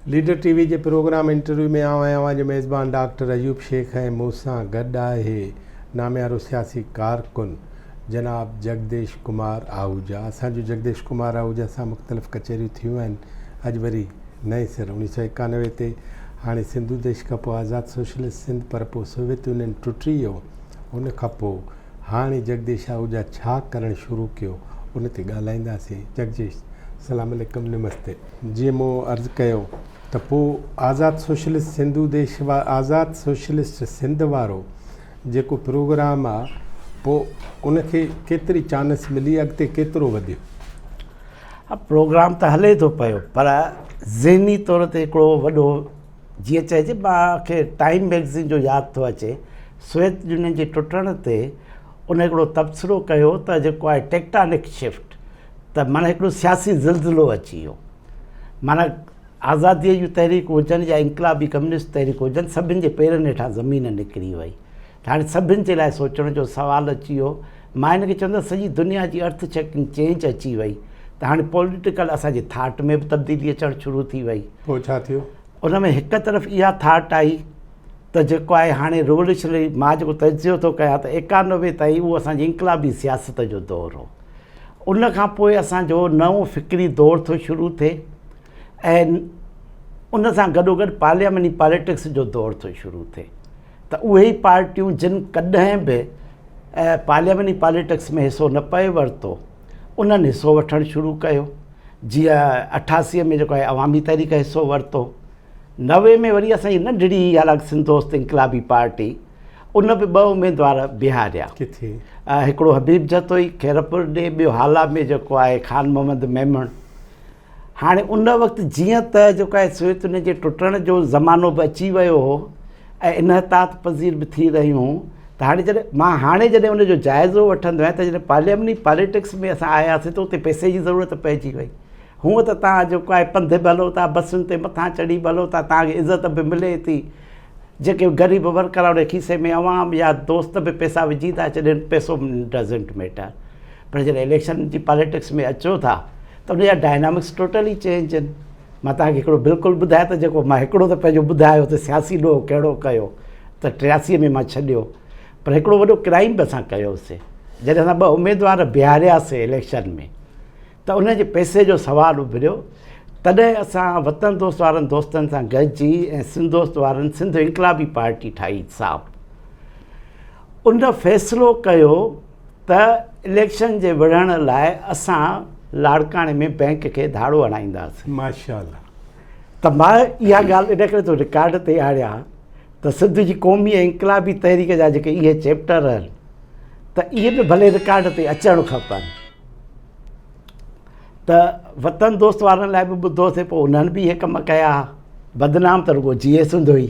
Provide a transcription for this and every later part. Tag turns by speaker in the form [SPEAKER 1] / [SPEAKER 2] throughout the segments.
[SPEAKER 1] Leader T V جي programme interview ۾ آئون ۽ اوهان جو ميزبان ڊاڪٽر ايوب شيخ ۽ مون سان گڏ آهي ناميارو سياسي ڪارڪن جناب جڳديش ڪمار آهوجا اسان جون جڳديش ڪمار آهوجا سان مختلف ڪچهريون ٿيون آهن اڄ وري نئين سر اڻيهه سؤ ايڪانوي تي هاڻي سنڌو ديش کانپوء آزاد سوشلسٽ سنڌ پر پوء سوويت يونين ٽٽي ويو ان کانپوء هاڻي جڳديش آهوجا ڇا ڪرڻ شروع ڪيو ان تي ڳالهائينداسين جڳديش سلام عليڪم نمستي. جيئن مون عرض ڪيو ته پوء آزاد سوشلسٽ سنڌو ديش آزاد سوشلسٽ سنڌ وارو جيڪو پروگرام آ پوء ان کي ڪيتري چانس ملي اڳتي ڪيترو وڌيو؟ پروگرام ته
[SPEAKER 2] هلي ٿو پيو پر ذهني طور تي هڪڙو وڏو جيئن چئجي مان کي ٽائيم مئگزين جو ياد ٿو اچي سويت يونين جي ٽٽڻ تي ان هڪڙو تبصرو ڪيو ته جيڪو آهي ٽيڪٽانڪ شفٽ ته معنيٰ هڪڙو سياسي زلزلو اچي ويو معنيٰ آزاديء جون تحريڪون هجن يا انقلابي ڪميونسٽ تحريڪون هجن سڀن جي پيرن هيٺان زمين نڪري وئي ته هاڻي سڀن جي لاء سوچڻ جو سوال اچي ويو. مان هن کي چوندس سڄي دنيا جي ارٿ ڇڪنگ چينج اچي وئي ته هاڻي پوليٽيڪل اسان جي ٿاٽ ۾ به تبديلي اچڻ شروع ٿي وئي. پوء ڇا ٿيو؟
[SPEAKER 1] ان ۾ هڪ
[SPEAKER 2] طرف اها ٿاٽ آئي ته جيڪو آهي هاڻي ريوليوشنري مان جيڪو تجزيو ٿو ڪيان ته ايڪانوي تائين اهو اسان جي انقلابي سياست جو دور هو. ان کان پوء اسان جو نئون فڪري دور ٿو شروع ٿئي ۽ ان سان گڏوگڏ پارليامني پاليٽڪس جو دور ٿو شروع ٿئي. ته اهي ئي پارٽيون جن ڪڏهن به پارلياماني پاليٽڪس ۾ حصو نه پئي ورتو انهن حصو وٺڻ شروع ڪيو جيئن اٺاسي ۾ جيڪو آهي عوامي تحريڪ حصو ورتو نوي ۾ وري اسان جي ننڍڙي حالانڪ سنڌ دوست انقلابي پارٽي ان به ٻه اميدوار بيهاريا
[SPEAKER 1] هڪڙو حبيب
[SPEAKER 2] جتوئي خيرپور ڏي ٻيو هالا ۾ جيڪو آهي خان محمد ميمڻ هاڻي ان وقت جيئن ته جيڪا هي سويت يونين جي ٽٽڻ جو زمانو به اچي ويو هو ۽ انحطاط پذير به ٿي رهيون ته هاڻي جڏهن مان هاڻي جڏهن ان جو جائزو وٺندو آهيان ته جڏهن پارليامني پاليٽڪس ۾ اسان آياسين ته اتي پئسي جي ضرورت پئجي وئي هونء ته توهان جيڪو آهي پنڌ به هلو ٿا بسن تي مٿان چڙهي به هلو ٿا توهان کي عزت به ملي ٿي جيڪي غريب ورڪر آهن انهي کيسي ۾ عوام يا دوست به پئسا وجهي ٿا ڇڏين پئسو ڊزنٽ ميٽر پر جڏهن اليڪشن جي پاليٽڪس ۾ اچو ٿا ته ان جا ڊائنامڪس ٽوٽلي چينج آهن. مان توهان کي هڪڙو بلڪل ٻڌايان ته جيڪو مان هڪڙو ته پنهنجو ٻڌايو ته سياسي ڏوهه ڪهڙو ڪيو ته ٽياسي ۾ مان ڇڏيو پر هڪڙو وڏو ڪرائيم به اسان ڪيوسي جڏهن اسان ٻه اميدوار بيهارياسي اليڪشن ۾ ته ان جي پئسي جو سوال اڀريو تڏهن اسان وطن دوست وارن دوستن سان گڏجي ۽ سنڌ دوست وارن سنڌ انقلابي پارٽي ٺاهي صاحب ان فيصلو ڪيو ته اليڪشن جي وڙهڻ لاء اسان لاڙڪاڻي ۾ بئنڪ کي ڌاڙو هڻائينداسين ماشاء الله
[SPEAKER 1] ته مان
[SPEAKER 2] اها ڳالهه ان ڪري ٿو رڪارڊ تي آڻيا ته سنڌ جي قومي ۽ انقلابي تحريڪ جا جيڪي اهي چيپٽر آهن ته اهي به ڀلي رڪارڊ تي اچڻ کپن ته وطن دوست وارن لاء به ٻڌوسي پوء انهن به اهي ڪم ڪيا بدنام ته رڳو جيئي سنڌ هئي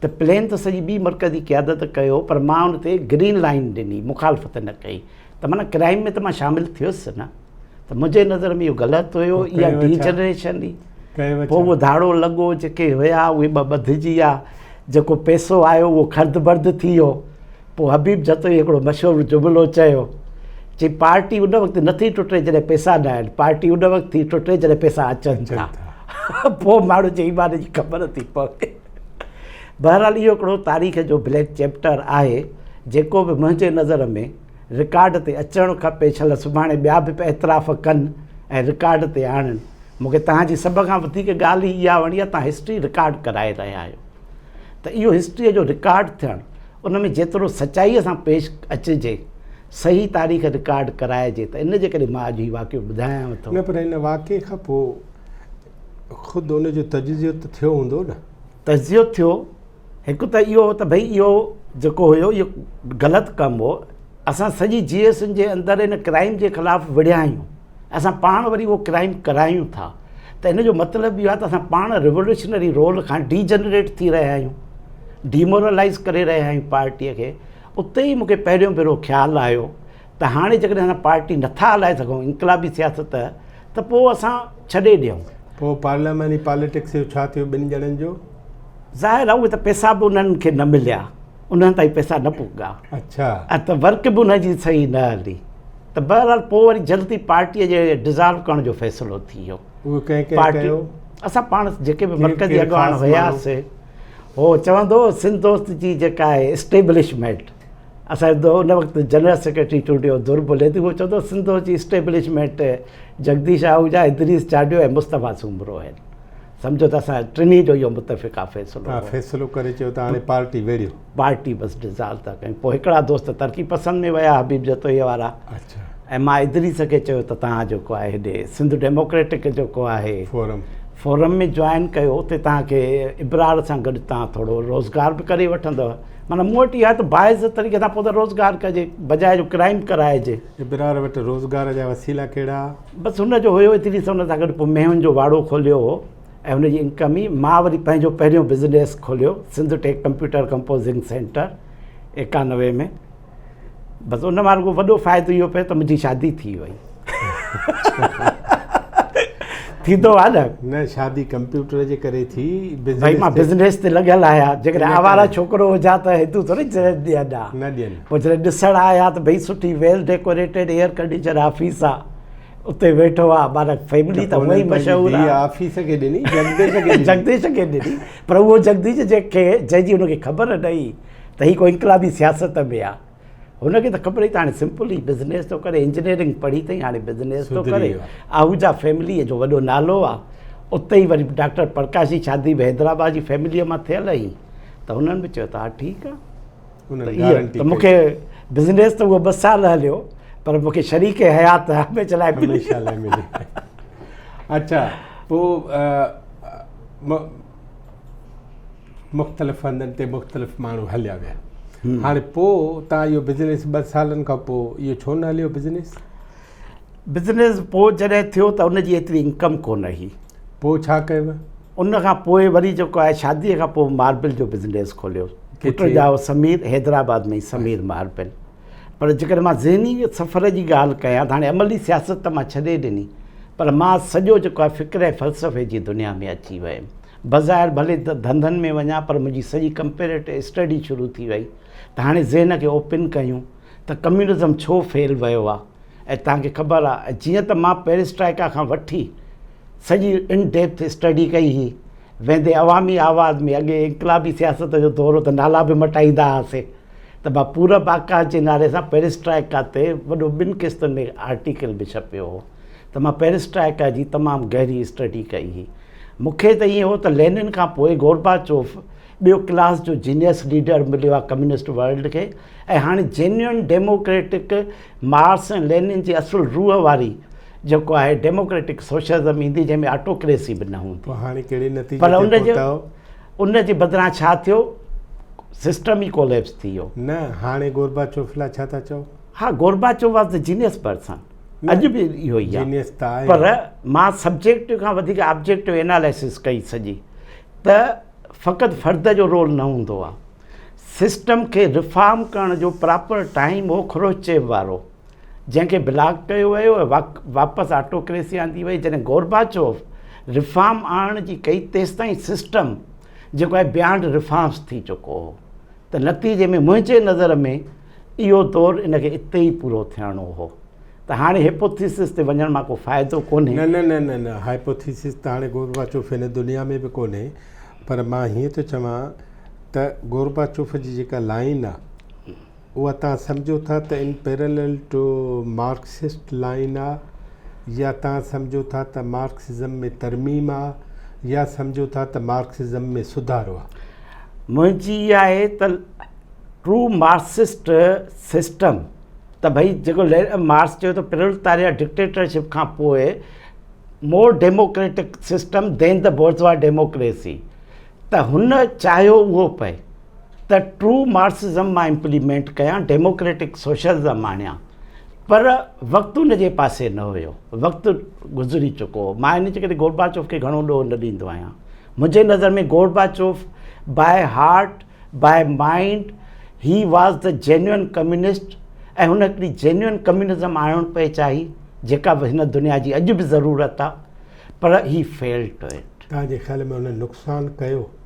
[SPEAKER 2] ته پلين ته سڄي ٻي مرڪزي قيادت ڪيو پر مان ان تي گرين لائين ڏني مخالفت نه ڪئي ته معنيٰ ڪرائيم ۾ ته مان شامل ٿيس نه ته منهنجي نظر ۾ اهو غلط هيو اها ڊي جنريشن هئي پوء اهو ڌاڙو لڳو جيڪي هيا اهي ٻه ٻڌجي ويا جيڪو پيسو آيو اهو خرد برد ٿي ويو پوء حبيب جتوئي هڪڙو مشهور جملو چيو چي پارٽي ان وقت نه ٿي ٽٽي جڏهن پيسا نه آهن پارٽي ان وقت ٿي ٽٽي جڏهن پيسا اچن ٿا پوء ماڻهو جي ايمان جي خبر ٿي پوي بهرحال اهو هڪڙو تاريخ جو بليڪ چيپٽر آهي جيڪو به منهنجي نظر ۾ رڪارڊ تي اچڻ کپي ڇل سڀاڻي ٻيا به اعتراف ڪن ۽ رڪارڊ تي آڻن مون کي توهان جي سڀ کان وڌيڪ ڳالهه هي اها وڻي آهي توهان هسٽري رڪارڊ ڪرائي رهيا آهيو ته اهو هسٽري جو رڪارڊ ٿيڻ ان ۾ جيترو سچائيء سان پيش اچجي صحيح تاريخ رڪارڊ ڪرائجي ته ان جي ڪري مان اڄ هي واقعو ٻڌايانو ٿو نه پر هن واقعي کان
[SPEAKER 1] پوء خود ان جو تجزيو ته ٿيو هوندو نه؟ تجزيو ٿيو،
[SPEAKER 2] هڪ ته اهو ته ڀئي اهو جيڪو هيو اهو غلط ڪم هو، اسان سڄي جي ايس اين جي اندر ان ڪرائيم جي خلاف وڙهيا آهيون، اسان پاڻ وري اهو ڪرائيم ڪرايون ٿا ته ان جو مطلب اهو آهي ته اسان پاڻ ريولوشنري رول کان ڊي جنريٽ ٿي رهيا آهيون، ڊي مورلائيز ڪري رهيا آهيون پارٽيء کي، اتي ئي مون کي پهريون ڀيرو خيال آيو. ته هاڻي جيڪڏهن اسان پارٽي نٿا هلائي سگهون انقلابي سياست ته پوء اسان ڇڏي ڏيون. پوء پارلياماني
[SPEAKER 1] پاليٽڪس جو ڇا ٿيو ٻن ڄڻن جو؟ ظاهر آهي
[SPEAKER 2] اهي ته پئسا به انهن کي نه مليا انهن تائين پئسا نه پڳا اڇا ته
[SPEAKER 1] ورڪ به
[SPEAKER 2] انهن جي صحيح نه هلي ته بهرحال پوء وري جلدي پارٽي جي ڊزالو ڪرڻ جو فيصلو ٿي ويو اهو ڪنهن ڪنهن
[SPEAKER 1] ڪيو؟ اسان
[SPEAKER 2] پاڻ جيڪي به مرڪزي اڳواڻ
[SPEAKER 1] هياسي
[SPEAKER 2] هو چوندو هو سنڌ دوست جي جيڪا آهي اسٽيبلشمينٽ اسان جو ان وقت جنرل سيڪريٽري چونڊيو ضرب ليدي هو چوندو هو سنڌو جي اسٽيبلشمينٽ جگديش آهوجا ادريس چاڊيو ۽ مصطفي سومرو آهن سمجهو ته اسان ٽنهي جو اهو متفق آ فيصلو آ فيصلو ڪري چيو
[SPEAKER 1] ته
[SPEAKER 2] هاڻي
[SPEAKER 1] پارٽي ويڙهيو پارٽي بس ڊزالو
[SPEAKER 2] ٿا ڪيون پوء هڪڙا دوست ترقي پسند ۾ ويا حبيب جتوئي وارا اڇا ۽ مان
[SPEAKER 1] ادريس
[SPEAKER 2] کي چيو ته تهان جو ڪو آهي هيڏي سنڌ ڊيموڪريٽڪ جو ڪو آهي فورم فورم ۾ جوائن ڪيو اتي تهان کي ابرار سان گڏ تهان ٿورو روزگار به ڪري وٺندو معنيٰ مون وٽ اها آهي ته باعزت طريقي سان پوء ته روزگار ڪجي بجاء جو ڪرائيم ڪرائجي. ابرار وٽ
[SPEAKER 1] روزگار جا وسيلا ڪهڙا؟ بس هن جو هيو
[SPEAKER 2] ايتري سان هن سان گڏ پوء مينهن جو واڙو کوليو هو ۽ هن جي انڪم ئي مان وري پنهنجو پهريون بزنيس کوليو Sindh tech computer composing centre ايڪانوي ۾ بس ان مان رڳو وڏو فائدو اهو پيو ته منهنجي شادي ٿي وئي ٿيندو آهي نه نه شادي
[SPEAKER 1] ڪمپيوٽر جي ڪري ٿي بھائی مان بزنس
[SPEAKER 2] تي لڳل آهيان جيڪڏهن آوارا ڇوڪرو هجا ته هندو ٿوري ڏين ها نه ڏين پوء
[SPEAKER 1] جڏهن ڏسڻ آيا
[SPEAKER 2] ته ڀئي سٺي well decorated air condition office آ اتي ويٺو آ مانا فيملي ته هوئي مشهور آ آفيس کي ڏني
[SPEAKER 1] جگديش کي جگديش
[SPEAKER 2] کي ڏني پر هو جگديش جنهن کي جنهن جي هن کي خبر نه هئي ته هي ڪو انقلابي سياست ۾ آ. هن کي ته خبر ئي ته هاڻي سمپلي بزنيس ٿو ڪري انجنيئرنگ پڙهي ٿئي هاڻي بزنيس ٿو ڪري آهوجا فيمليء جو وڏو نالو آ اتي ئي وري ڊاڪٽر پرڪاش جي شادي به حيدرآباد جي فيمليء مان ٿيل هئي ته هنن به چيو ته ها ٺيڪ آ ته مون کي بزنيس ته اهو ٻه سال هليو پر مون کي شريڪ حيات هميشه لاء هميشه لاء ملي اچا
[SPEAKER 1] پوء مختلف هنڌن تي مختلف ماڻهو هليا ويا هاڻي پوء تان اهو بزنس ٻه سالن کان پوء اهو ڇو نه هليو بزنس
[SPEAKER 2] بزنس پوء جڏهن ٿيو ته ان جي ايتري انڪم ڪونه هئي پوء ڇا ڪيو
[SPEAKER 1] ان کان پوء
[SPEAKER 2] وري جيڪو آهي شادي کان پوء ماربل جو بزنس کوليو پٽ جاء سمير حيدرآباد ۾ سمير ماربل پر جيڪڏهن مان ذهني سفر جي ڳالهه ڪيان ته هاڻي عملي سياست ته مان ڇڏي ڏني پر مان سڄو جيڪو آهي فڪر ۽ فلسفي جي دنيا ۾ اچي ويم. بظاهر ڀلي ڌنڌن ۾ وڃان پر منهنجي سڄي ڪمپيريٽو اسٽڊي شروع ٿي وئي ته هاڻي ذهن کي اوپن ڪيون ته ڪميونزم ڇو فيل ويو آهي ۽ توهان کي خبر آهي ۽ جيئن ته مان پيريسٽرائيڪا کان وٺي سڄي ان ڊيپٿ اسٽڊي ڪئي هئي ويندي عوامي آواز ۾ اڳي انقلابي سياست جو دورو ته نالا به مٽائيندا هئاسين. ته ڀا پورب آڪاش جي نالي سان پيريسٽرائيڪا تي وڏو ٻن قسطن ۾ آرٽيڪل به ڇپيو هو ته مان پيريسٽرائيڪا جي تمام گهري اسٽڊي ڪئي هئي. مون کي ته ائين هو ته لينن کان پوء گورباچوف ٻيو ڪلاس جو جينيئس ليڊر مليو آهي ڪميونسٽ ورلڊ کي ۽ هاڻي جينيون ڊيموڪريٽڪ مارڪس ۽ لينن جي اصل روح واري جيڪو آهي ڊيموڪريٽڪ سوشلزم ايندي جنهن ۾ آٽوڪريسي به نه هوندي. پوء هاڻي ڪهڙي نتيجي تي پهتا
[SPEAKER 1] آهيو؟
[SPEAKER 2] ان جي بدران ڇا ٿيو؟ سسٽم ئي ڪوليپس ٿي ويو. نه هاڻي
[SPEAKER 1] گورباچوف لاء ڇا ٿا چئو؟ ها Gorbachev
[SPEAKER 2] was the genius person اڄ به اهو ئي جينيس ته آهي پر مان سبجيڪٽو کان وڌيڪ آبجيڪٽو ايناليسس ڪئي سڄي ته فقط فرد جو رول نه هوندو آهي سسٽم کي رفارم ڪرڻ جو پراپر ٽائيم هو خروشچيف وارو جنهن کي بلاڪ ڪيو ويو ۽ واپس آٽوڪريسي آندي وئي جڏهن گورباچوف رفارم آڻڻ جي ڪئي تيستائين سسٽم جيڪو آهي بيانڊ رفارمس ٿي چڪو هو ته نتيجي ۾ منهنجي نظر ۾ اهو دور ان کي اتي ئي پورو ٿيڻو هو ته هاڻي هيپوٿيسس تي وڃڻ مان ڪو فائدو ڪونهي نه نه نه نه نه
[SPEAKER 1] هائپوٿيسس ته هاڻي گورباچوف هن دنيا ۾ به ڪونهي پر مان هيئن ٿو چوان ته گورباچوف جي جيڪا لائن آهي اها توهان سمجهو ٿا ته ان پيرلل ٽو مارڪسسٽ لائين آ يا توهان سمجهو ٿا ته مارڪسزم ۾ ترميم آ يا سمجهو ٿا ته مارڪسزم ۾ سڌارو آ. منهنجي
[SPEAKER 2] اها آهي ته ٽو مارڪسسٽ سسٽم ته ڀئي جيڪو مارڪس چيو ته پرولتاريا ڊڪٽيٽرشپ کان پوء more democratic system then the bourgeois democracy ته هن چاهيو اهو پئي. ته ٽرو مارڪسزم مان امپليمينٽ ڪيان ڊيموڪريٽڪ سوشلزم آڻيان پر وقت ان جي پاسي نه هيو وقت گذري چڪو هو مان ان جي ڪري گوربا چوف کي گهڻو ڏوهه نه ڏيندو آهيان منهنجي نظر ۾ Gorbachev by heart by mind he was the genuine communist ۽ هن هڪڙي جينوئن ڪميونزم آڻڻ پئي چاهي جيڪا هن دنيا جي اڄ به ضرورت آهي پر هي فيلڊ ٽو اٽ توهان جي خيال ۾ هن
[SPEAKER 1] نقصان ڪيو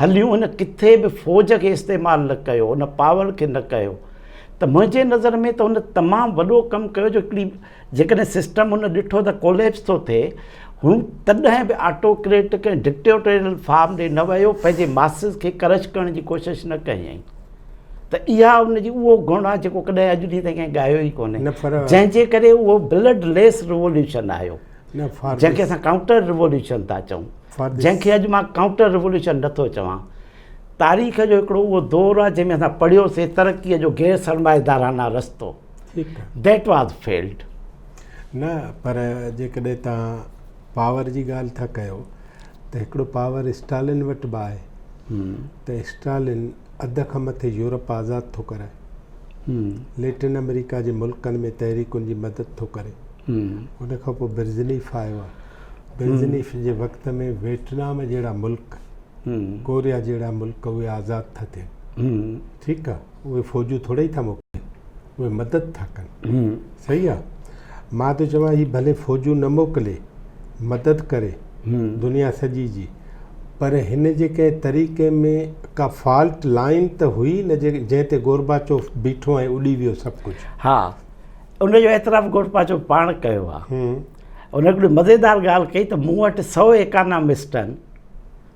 [SPEAKER 2] هليون هن ڪٿي به فوج کي استعمال نه ڪيو هن پاور کي نه ڪيو ته منهنجي نظر ۾ ته هن تمام وڏو ڪم ڪيو جو هڪڙي جيڪڏهن سسٽم هن ڏٺو ته ڪوليپس ٿو ٿئي هو تڏهن به آٽوڪريٽڪ ۽ ڊڪٽيوٽريل فارم ڏي نه ويو پنهنجي ماسز کي ڪرش ڪرڻ جي ڪوشش نه ڪيائين ته اها ان جي اهو گڻ آهي جيڪو ڪڏهن اڄ ڏينهن تائين ڪنهن ڳايو ئي ڪونهي جنهن جي ڪري اهو بلڊ ليس ريوليوشن آيو جنهن کي اسان ڪائونٽر ريوليوشن ٿا چئون جنهن کي اڄ مان ڪائونٽر ريوليوشن نه ٿو چوان. تاريخ جو هڪڙو اهو دور آهي جنهن ۾ اسان پڙهيو سي ترقي جو غير سرمائيدارانه رستو That was failed. نه
[SPEAKER 1] پر جيڪڏهن توهان پاور جي ڳالهه ٿا ڪيو ته هڪڙو پاور اسٽالن وٽ به آهي ته اسٽالن اڌ کان مٿي يورپ آزاد ٿو ڪرائي ليٽن آمريڪا جي ملڪن ۾ تحريڪن جي مدد ٿو ڪري ان کان پوء برزنيف آيو آهي بينزنيف جي وقت ۾ ويٽنام جهڙا ملڪ ڪوريا جهڙا ملڪ اهي آزاد ٿا ٿين ٺيڪ آ اهي فوجون ٿوري ئي ٿا موڪلين اهي مدد ٿا ڪن صحيح آ مان ٿو چوان هي ڀلي فوجون نه موڪلي مدد ڪري دنيا سڄي جي پر هن جي ڪنهن طريقي ۾ ڪا فالٽ لائن ته هئي نه جنهن تي گوربا چوف بيٺو ۽ اڏي ويو سڀ ڪجهه ها
[SPEAKER 2] ان جو اعتراف گوربا چوف پاڻ ڪيو آ هن هڪڙي مزيدار ڳالهه ڪئي ته مون وٽ سؤ ايڪانامسٽ آهن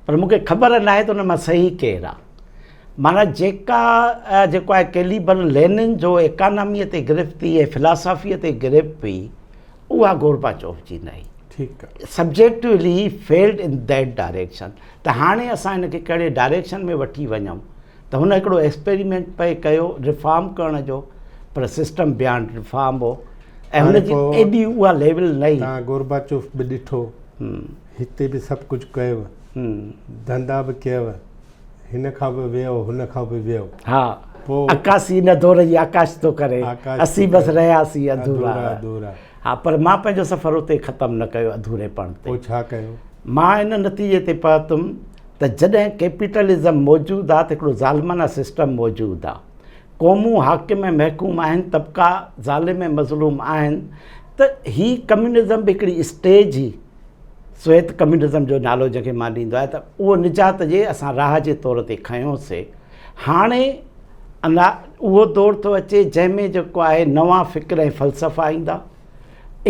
[SPEAKER 2] پر مون کي خبر ناهي ته ان مان صحيح ڪير آهي مانا جيڪا جيڪو آهي ڪيليبر لينن جو ايڪاناميء تي گرفتي ۽ فلاسافيء تي گرفت هئي اها گوربا چوف جي نه هئي
[SPEAKER 1] subjectively
[SPEAKER 2] failed in that direction ته هاڻي اسان هن کي ڪهڙي ڊائريڪشن ۾ وٺي وڃون ته هن هڪڙو ايڪسپيريمينٽ پئي ڪيو ريفارم ڪرڻ جو پر سسٽم بيانڊ ريفارم هو ۽ هن جي ايڏي اها ليول نه هئي. تان گورباچوف به
[SPEAKER 1] ڏٺو، هتي به سڀ ڪجهه ڪيو، ڌندا به ڪيو، هن کان به ويو، هن کان به ويو. ها، پوء.
[SPEAKER 2] عڪاسي ان دور جي عڪاس ٿو ڪري، اسين بس رهياسين اڌورا. اڌورا. ها، پر مان پنهنجو سفر اتي ختم نه ڪيو اڌوريپڻ تي. پوء ڇا ڪيو؟
[SPEAKER 1] مان ان نتيجي تي
[SPEAKER 2] پهتم. ته جڏهن ڪيپيٽلزم موجود آ ته هڪڙو ظالمانه سسٽم موجود آ، قومون حاڪم ۽ محڪوم آهن، طبقا ظالم ۽ مظلوم آهن ته هي ڪميونزم به هڪڙي اسٽيج هي، سويت ڪميونزم جو نالو جنهن کي مان ڏيندو آهيان ته اهو نجات جي اسان راهه جي طور تي کنيو سي. هاڻي انا اهو دور ٿو اچي جنهن ۾ جيڪو آهي نوان فڪر ۽ فلسفا ايندا.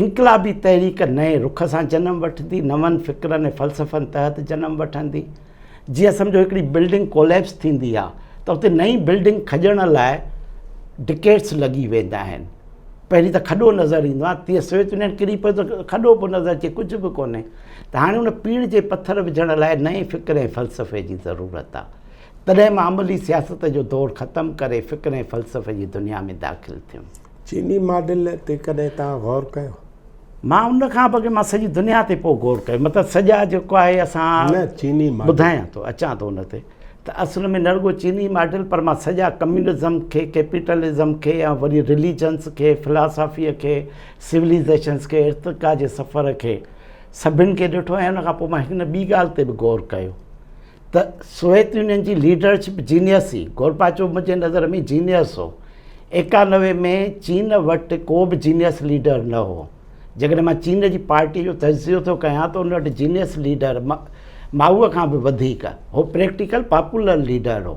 [SPEAKER 2] انقلابي تحريڪ نئين رخ سان جنم وٺندي، نون فڪرن ۽ فلسفن تحت جنم وٺندي. جيئن سمجهو هڪڙي بلڊنگ ڪوليپس ٿيندي آهي ته اتي نئين بلڊنگ کڄڻ لاء ڊڪيڊس لڳي ويندا آهن. پهرين ته کڏو نظر ايندو آهي، تيئن سوويت يونين ڪري پيو ته کڏو به نظر اچي، ڪجهه به ڪونهي. ته هاڻي ان پيڙهه جي پٿر وجهڻ لاء نئين فڪر ۽ فلسفي جي ضرورت آهي. تڏهن مان عملي سياست جو دور ختم ڪري فڪر ۽ فلسفي جي دنيا ۾ داخل ٿيم. چيني ماڊل
[SPEAKER 1] تي ڪڏهن توهان غور ڪيو؟ مان ان
[SPEAKER 2] کان به اڳي مان سڄي دنيا تي پوء غور ڪيو مطلب سڄا جيڪو آهي اسان نه چيني ماڊل ٻڌايان
[SPEAKER 1] ٿو اچان
[SPEAKER 2] ٿو ان تي ته اصل ۾ نه رڳو چيني ماڊل پر مان سڄا ڪميونزم کي ڪيپيٽلزم کي ۽ وري رليجنس کي فلاسافي کي سوليزيشنس کي ارتقا جي سفر کي سڀن کي ڏٺو ۽ ان کان پوء مان هڪ نه ٻي ڳالهه تي به غور ڪيو ته سوويت يونين جي ليڊرشپ جينيس هئي، گورباچوف منهنجي نظر ۾ جينيس هو. ايڪانوي ۾ چين وٽ ڪو به جينيس ليڊر نه هو. جيڪڏهن مان چين جي پارٽي جو تجزيو ٿو ڪيان ته ان وٽ جينيس ليڊر مائو کان به وڌيڪ هو پريڪٽيڪل پاپولر ليڊر هو.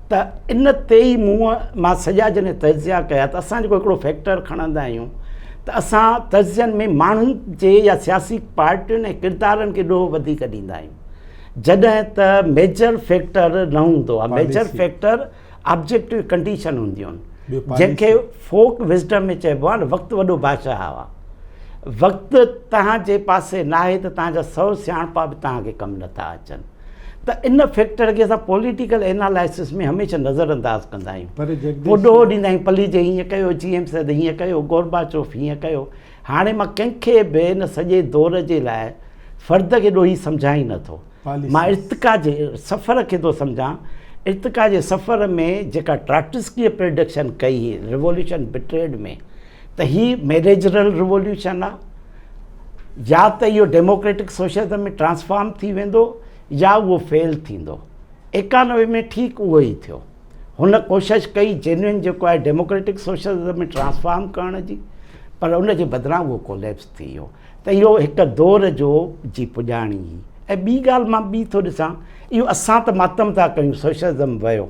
[SPEAKER 2] ته ان تي ئي مون مان سڄا جڏهن تجزيا ڪيا ته اسان جيڪو هڪڙو فيڪٽر کڻندا آهيون ته اسان تجزين ۾ ماڻهن جي يا سياسي پارٽين ۽ ڪردارن کي ڏوهه وڌيڪ ڏيندا آهيون جڏهن ته ميجر فيڪٽر نه هوندو آهي ميجر فيڪٽر
[SPEAKER 1] آبجيڪٽو
[SPEAKER 2] ڪنڊيشن هونديون آهن جنهن کي
[SPEAKER 1] فوڪ
[SPEAKER 2] وزڊم ۾ چئبو آهي وقت وڏو بادشاهه آهي وقت توهان جي پاسي ناهي ته توهان جا سو سياڻپا به توهان کي ڪم نٿا اچن ته ان فيڪٽر کي اسان پوليٽيڪل اينالائسس ۾ هميشه نظر انداز ڪندا آهيون پوء ڏوهه ڏيندا
[SPEAKER 1] آهيون
[SPEAKER 2] پليجي هيئن ڪيو جي ايم سيد هيئن ڪيو گورباچوف هيئن ڪيو هاڻي مان ڪنهن کي به ان سڄي دور جي لاء فرد کي ڏوهي سمجهان ئي نٿو مان ارتقا
[SPEAKER 1] جي
[SPEAKER 2] سفر کي ٿو سمجهان ارتقا جي سفر ۾ جيڪا ٽراٽسڪيء پرڊڪشن ڪئي هئي ريوليوشن بٽريڊ ۾ ته هي ميريجرل ريوليوشن آهي يا ته اهو ڊيموڪريٽڪ سوشلزم ۾ ٽرانسفارم ٿي ويندو يا اهو فيل ٿيندو. ايڪانوي ۾ ٺيڪ اهو ئي ٿيو. هن ڪوشش ڪئي جينوئن جيڪو آهي ڊيموڪريٽڪ سوشلزم ۾ ٽرانسفارم ڪرڻ جي پر ان جي بدران اهو ڪوليپس ٿي ويو ته اهو هڪ دور جو جي پڄاڻي هئي ۽ ٻي ڳالهه مان ٻي ٿو ڏسان اهو اسان ته ماتم ٿا ڪيون سوشلزم ويو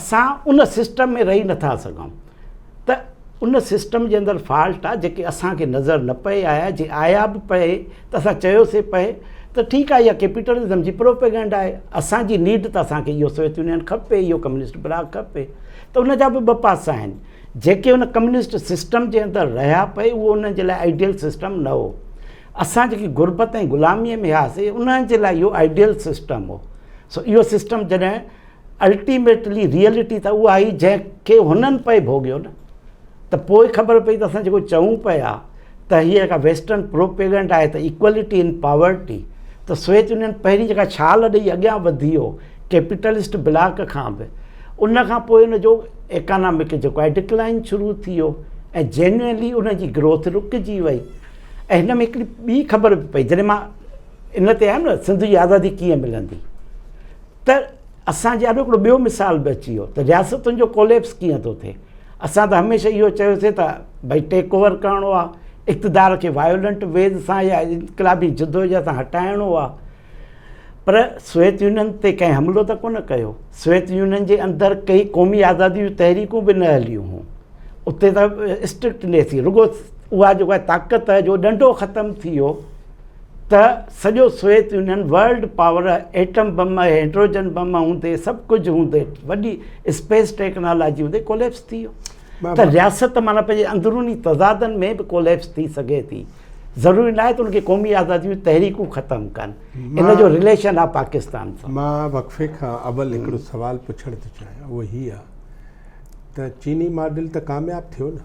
[SPEAKER 2] اسان ان سسٽم ۾ رهي نٿا سگهون ته ان سسٽم جي اندر فالٽ آ جيڪي اسان کي نظر نه پئي آيا جي آيا به پئي ته اسان چيوسي پئي ته ٺيڪ آ اها ڪيپيٽلزم جي پروپيگنڊ آهي اسان جي نيڊ ته اسان کي اهو سويت يونين کپي اهو ڪميونسٽ بلاڪ کپي ته ان جا به ٻه پاسا آهن جيڪي ان ڪميونسٽ سسٽم جي اندر رهيا پئي اهو انهن جي لاء آئيڊيل سسٽم نه هو اسان جيڪي غربت ۽ غلامي ۾ هياسي انهن جي لاء اهو آئيڊيل سسٽم هو سو اهو سسٽم جڏهن الٽيميٽلي ريئلٽي ته اها آهي جنهن کي هنن پئي ڀوڳيو نه ته پوء خبر پئي ته اسان جيڪو چئون پيا ته هيء جيڪا ويسٽرن پروپيگنڊ آهي ته ايڪوالٽي ان پاورٽي ته سويت يونين پهرين جيڪا ڇال ڏيئي اڳيان وڌي ويو ڪيپيٽلسٽ بلاڪ کان به ان کان پوء ان جو ايڪانامڪ جيڪو آهي ڊڪلائن شروع ٿي ويو ۽ جينوئنلي ان جي گروٿ رڪجي وئي ۽ هن ۾ هڪڙي ٻي خبر به پئي جڏهن مان ان تي آيم نه سنڌ جي آزادي ڪيئن ملندي ته اسان جي آڏو هڪڙو ٻيو مثال به اچي ويو ته رياستن جو ڪوليپس ڪيئن ٿو ٿئي اسان ته هميشه اهو چيوسي ته ڀئي ٽيڪ اوور ڪرڻو آهي اقتدار کي وائولنٽ ويز سان يا انقلابي جدوجهد سان هٽائڻو آهي پر سويت يونين تي ڪنهن حملو ته ڪونه ڪيو سويت يونين جي اندر ڪئي قومي آزادي جون تحريڪون به نه هليون هيون اتي ته اسٽرڪٽنيس رڳو اها جيڪا طاقت جو ڏنڊو ختم ٿي ويو ته سڄو Soviet Union world power atom bomb hydrogen bomb هوندي سڀ ڪجهه هوندي وڏي اسپيس ٽيڪنالاجي هوندي ڪوليپس ٿي ويو ته رياست معنی پنهنجي اندروني تضادن ۾ به ڪوليپس ٿي سگهي ٿي ضروري نه آهي ته ان کي قومي آزادي جون تحريڪون ختم ڪن ان جو رليشن آهي پاڪستان سان مان وقفي کان
[SPEAKER 1] اول هڪڙو سوال پڇڻ ٿو چاهيان اهو هي آهي ته چيني ماڊل ته ڪامياب ٿيو نه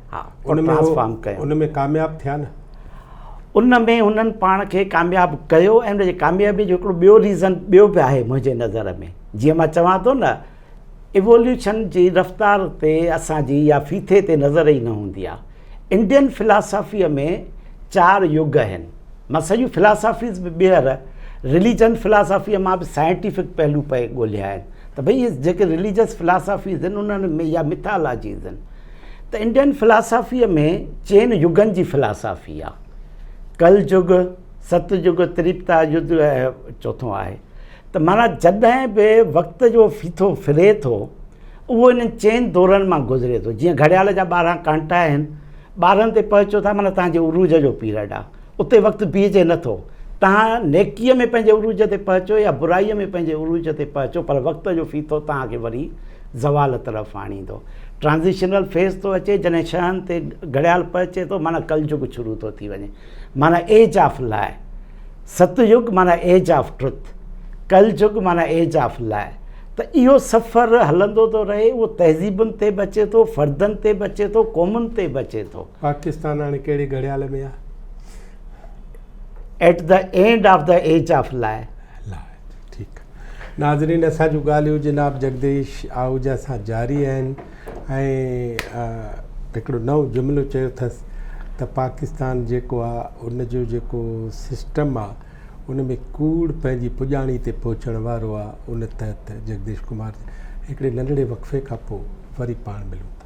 [SPEAKER 2] ها ان ۾
[SPEAKER 1] ٽرانسفارم ڪيو ان ۾ ڪامياب ٿيا نه ان
[SPEAKER 2] ۾ هنن پاڻ کي ڪامياب ڪيو ۽ ان جي ڪاميابي جو هڪڙو ٻيو ريزن ٻيو به آهي منهنجي نظر ۾ جيئن مان چوان ٿو نه ايووليوشن جي رفتار تي اسان جي يا فيٿي تي نظر ئي نه هوندي آهي انڊين فلاسافيء ۾ چار يگ آهن مان سڄيون فلاسافيز به ٻيهر رليجن فلاسافيء مان به سائنٽيفڪ پهلو پئي ڳولهيا آهن ته ڀئي جيڪي رليجس فلاسافيز آهن انهن ۾ يا مٿالاجيز آهن ته انڊين فلاسافيء ۾ چئن يگن جي فلاسافي آهي، ڪل يگ، ست يگ، تريپتا يگ ۽ چوٿون آهي ته معنيٰ جڏهن به وقت جو ڦيٿو ڦري ٿو اهو انهن چئن دورن مان گذري ٿو جيئن گهڙيال جا ٻارهن ڪانٽا آهن ٻارهن تي پهچو ٿا معنيٰ توهان جي عروج جو پيرڊ آهي اتي وقت بيهجي نه ٿو. توهان نيڪيء ۾ پنهنجي عروج تي پهچو يا برائيء ۾ پنهنجي عروج تي پهچو پر وقت جو ڦيٿو توهان کي وري زوال طرف آڻيندو. Transitional Phase ٿو اچي جڏهن شهن تي گهڙيال پهچي ٿو معنيٰ ڪلجگ شروع ٿو ٿي وڃي معنيٰ Age of Lie ست يگ معنيٰ Age of Truth ڪلجگ معنيٰ Age of Lie ته اهو سفر هلندو ٿو رهي اهو تهذيبن تي به اچي ٿو فردن تي به اچي ٿو قومن تي به اچي
[SPEAKER 1] ٿو. پاڪستان
[SPEAKER 2] هاڻي
[SPEAKER 1] ڪهڙي
[SPEAKER 2] گهڙيال ۾
[SPEAKER 1] آ؟
[SPEAKER 2] At the end of the age of law. Law ٺيڪ
[SPEAKER 1] ناظرين اسان جون ڳالهيون جناب جگديش آهوجا سان جاري آهن ۽ هڪڙو نئون جملو چيو ٿس ته پاڪستان جيڪو آ ان جو جيڪو سسٽم آ ان ۾ ڪوڙ پنهنجي پڄاڻي تي پهچڻ وارو آ ان تحت جگديش ڪمار هڪڙي ننڍڙي وقفي کان پوء وري پاڻ ملون ٿا.